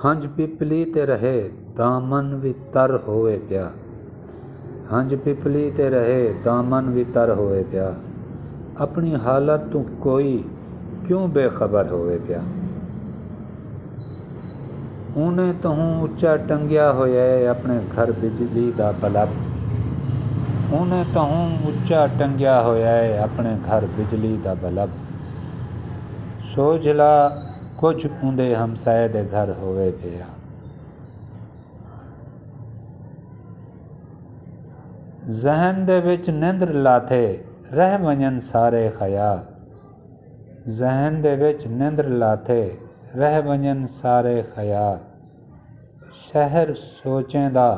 ہنج پپلی تے رہے دامن وی تر ہووے پیا ہنج پپلی تے رہے دامن وی تر ہووے پیا اپݨی حالت توں کوئی کیوں بے خبر ہووے پیا اونیں تہوں اچا ٹنگیا ہویا ہے اپݨے گھر بجلی دا بلب اونیں تہوں اچا ٹنگیا ہویا ہے اپݨے گھر بجلی دا بلب۔ سوجھلا کجھ اوندے ہمسائے دے گھر ہووے پیا۔ ذہن دے وچ نندر لاتھے رہ ونجن سارے خیال۔ ذہن دے وچ نندر لاتھے رہ ونجن سارے خیال۔ شہر سوچیں دا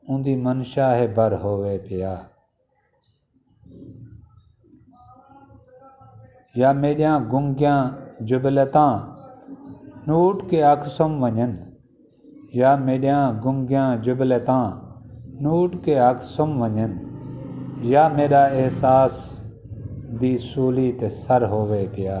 اوندی منشا ہے بھر ہووے پیا۔ یا میݙیاں گنگیاں جبلتاں نوٹ کے آکھسوں ونڄن یا میݙیاں گنگیاں جبلتاں نوٹ کے آکھسوں ونڄن یا میݙا احساس دی سولی تے سر ہووے پیا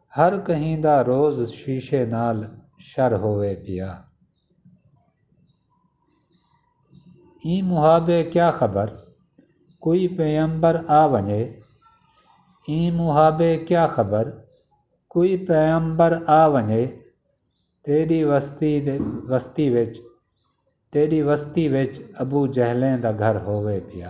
ہر کہیں دا روز شیشے نال شر ہووے پیا۔ ایں محابے کیا خبر کوئی پیمبر آ ونجے۔ ایں محابے کیا خبر کوئی پیمبر آ ونجے۔ تیڈی وستی وچ تیڈی وستی وچ ابو جہلیں دا گھر ہووے پیا۔